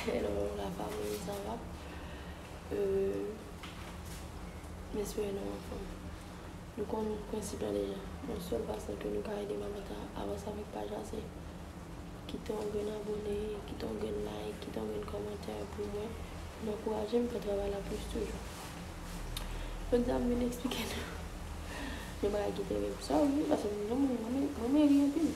Hello la famille, ça va? Euh, Mespere nou anfòm. Nou konn prensip la deja. Yon sèl fason ke nou ka ede Mamat a avanse avèk paj la se kite yon grenn abone, kite yon grenn like, kite yon grenn kòmantè pou mwen, pou nou ankouraje m fè travay la plis toujou. Jodi a m vin eksplike nou yon bagay ki te rive. Sa rive paske mwen menm mwen meri anpil.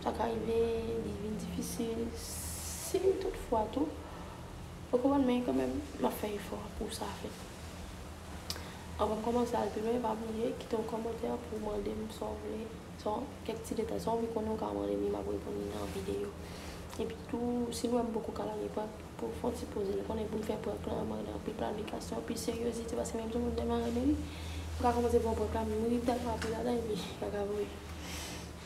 Sa ka rive li vin difisil si tout fwa tou ou konprann men kanmenm map fè efò pou sa fèt. Anvan m kòmanse al pi lwen pa bliye kite yon kòmantè pou w mande m sa w vle, sa w, kèk ti detay, sa w vle konnen ou ka mande m li map reponn li nan videyo. Epi tou si nou wè m poko ka lage prank pou w fè yon ti poze lè konnen pou m fè prank lan mande anpil planifikasyon, anpil seryozite paske menm si yon moun tèlman renmen li, m ka kòmanse fè yon prank la m ri tèlman ap ri ladan l epi sa ka vwe.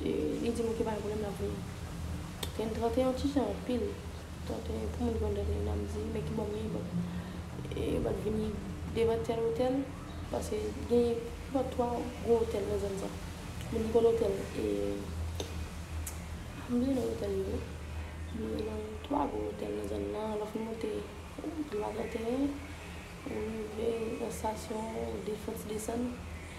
Li dim ok pa gen problème lap vini. Ken 31 ti jan anpil. 31 pou moun ki konn 31 an ap di men ki bò mye but yo bat vini devan tèl otèl paske gen about 3 gwo otèl nan zòn sa. Moun ki konn otèl e m bliye non otèl yo wi. Men gen 3 gwo otèl nan zòn nan lè w fin monte boulva 31 ou rive nan stasyon defans desann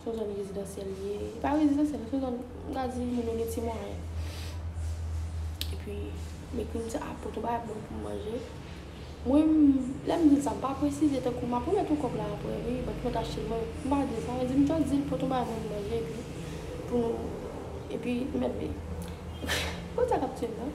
Se yon zòn rezidansyèl li ye. Li pa rezidansyèl, se yon zòn m ka di moun yo gen ti mwayen. Epi, m ekri m se a poto bagay ap bon pou m manje. Mwen, lè m di l sa, m pa presize tankou m ap remèt ou kòb la aprè wi, bank mwen t achte l. Mwen, m pa di sa. Mwen di m jis di l poto bagay mwen m manje epi pou nou epi m mèt vini. Ou konn sa k ap tuye m nan?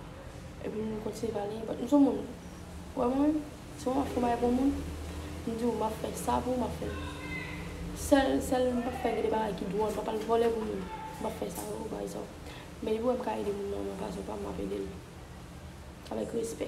Epi m kontinye pale. Bat m son moun. Ou wè mwen? Se mwen m ap fè yon bagay pou yon moun, m di ou m ap fè sa pou ou, m ap fè sèl, sèl m pa fè gen de bagay ki dwòl, m pa pral vòlè pou moun, m pa fè sa yo, pa egzanp. Men depi ou wè m ka ede moun nan nan fason pa m, m ap ede l avèk respè.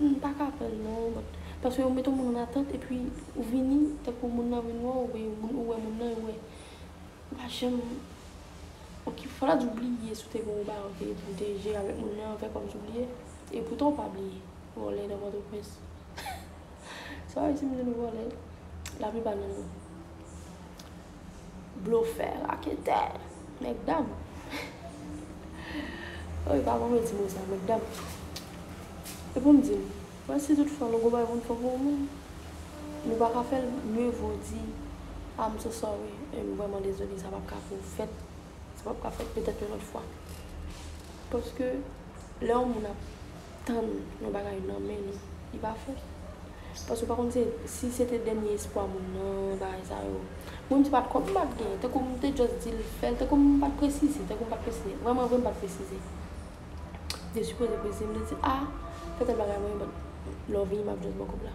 M pa ka prann non but paske ou mete yon moun an atant epi ou vini tankou moun nan vin wè w e moun ou wè moun nan yo wè ou pa janm ok fò la di ou bliye si w te gen yon bagay ok epi w te jere avèk moun nan fè kòmsi w bliye e poutan w pa bliye vòlè nan pòtoprens sa w di m di nou vòlè laplipa nan nou. Blofè, raketè, nèg dam. Oh epa mwen mwen di mo sa nèg dam. E pou m di nou, bon si tout fwa nou gen yon bagay pou nou fè pou yon moun, nou pa ka fè l, mieux vaut di I'm so sorry, m vrèman dezole sa pap ka pou fèt. Sa pap ka fèt petèt yon lòt fwa. Paske lè yon moun ap tann yon bagay nan men nou, li pa fèt. Paske ou pa konn se, si se te dènye espwa moun nan, bagay sa yo. Mwen menm se pat kòb m pat gen. Tankou m te just di l fè l, tankou m pat presize, tankou m pat presize. Vrèman vre m pat presize. M te sipoze presize, m te di a, fè tèl bagay mwen, but lè w vini m ap just ba w kòb la.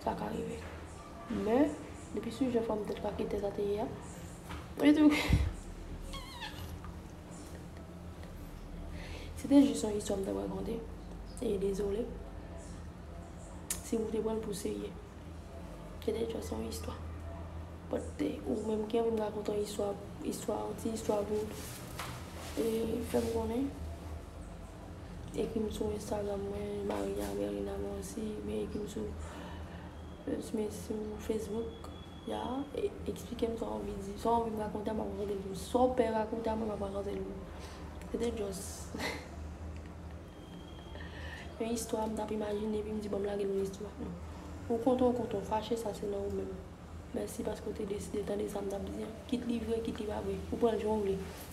Sa ka rive. Men, depi sou jan fòm tèt kake tèt a te ye a, mwen te toujou. Se te jis yon istwa m t ap rakonte. E dezole si ou te pran l pou serye. Se te jis yon istwa. Bòt ou menm ki anvi m rakonte yon istwa, istwa, yon ti istwa pou ou. E fè m konnen. Ekrim sou Instagram mwen Maria Merina Moisy oubyen ekrim sou Facebook ya eksplikem sa ou anvi di, sa ou anvi m rakonte a m ap rakonte l pou ou, sa ou pè rakonte a mwen m ap rakonte l pou ou. Se te just yon istwa m t ap imajine epi m di bon m lage l yon istwa. Ou kontan ou kontan, ou fache sa se nan ou menm. Mèsi paske ou te deside tande sa m t ap di an. Kit li vre kit li pa vre, ou pran l jan ou vle.